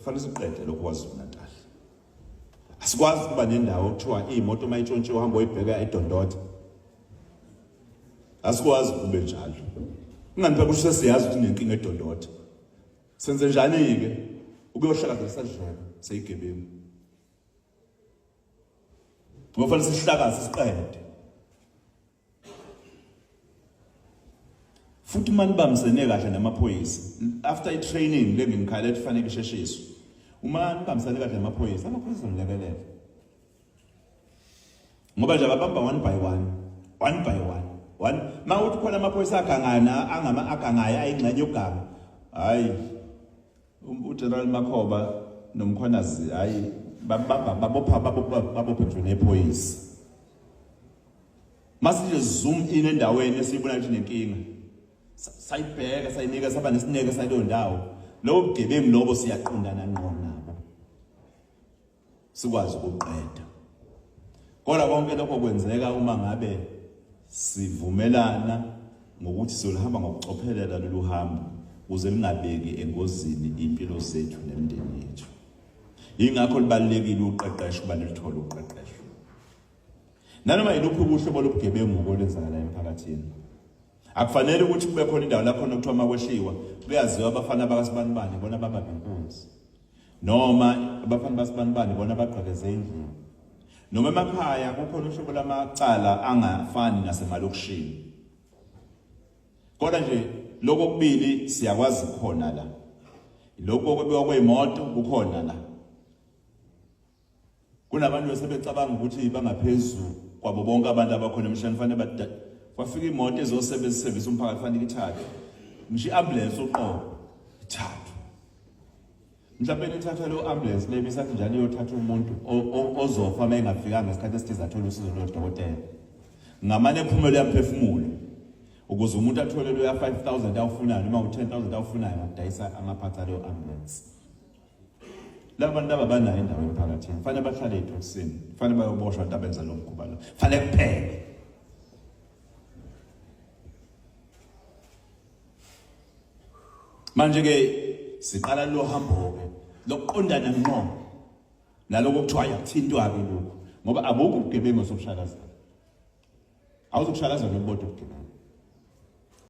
Fanele siqede lokho kwaZulu Natal. Asikwazi ukuba nendawo kuthiwa imoto uma itshontshiwe uhamba oyibheka edondotha. Asikwazi kube njalo. Ingani phela kusho siyazi ukuthi nenkinga edondotha. Senze njani ke? Ukuyohlakazela sadlala seyigebengu. Ngofanele sihlakaze siqede. futhi uma nibambisene kahle namaphoyisa after i-training le ngimkhala ethi fanele isheshiswe uma nibambisene kahle namaphoyisa amaphoyisa nilekelela ngoba nje ababamba one by one one by one one ma uthi khona amaphoyisa agangana angama agangayo ayingxenye yoganga hayi Um, uGeneral Makhoba nomkhwanazi hayi babamba babopha babopha babopha nje nephoyisa. Masije zoom in endaweni esiyibona ukuthi nenkinga. Sayibheka sayinika saba nesineke sayileyo ndawo. Lobo bugebengu lobo siyaqondana ngqo nabo. sikwazi ukuqeda kodwa konke lokho kwenzeka uma ngabe sivumelana ngokuthi siyolihamba ngokucophelela lolu hambo kuze lingabeki engozini impilo zethu nemindeni yethu yingakho libalulekile uqeqesho uba nilithole uqeqesho nanoma yiluphi ubuhlobo lobugebengu kolenzakala emphakathini Akufanele ukuthi kube khona indawo lapho nokuthiwa makwehliwa kuyaziwa abafana bakasibanibani bona baba ngenkunzi. Noma abafana basibanibani bona bagqekeze indlini. Noma emakhaya kukhona uhlobo lamacala angafani nasemalokishini. Kodwa nje lokho kubili siyakwazi khona la. Lokho kwebiwa kweimoto kukhona la. Kunabantu esebecabanga ukuthi bangaphezulu kwabo bonke abantu abakhona emhlabeni fanele bada kwafika imoto ezosebenzisa service umphakathi fanele ithathe ngisho iambulance uqobo ithathu mhlawumbe nithatha lo ambulance le bisathi njalo iyothatha umuntu ozofa uma engafikanga ngesikhathi esithize athole usizo lodokotela ngamane ephumelo yamphefumulo ukuze umuntu athole lo ya 5000 awufunayo noma u 10000 awufunayo ngokudayisa amaphatha leyo ambulance laba bantu laba banayo indawo emphakathini kufanele bahlale ethosini kufanele bayoboshwa abantu abenza lo mkhuba lo kufanele kuphele manje-ke siqala lo hambo-ke lokuqondana ngqo naloko kuthiwa yakuthintwa-ke lokhu ngoba abukho ubugebengu sobushakazana awuzokushakaza nokubodwa ubugebengu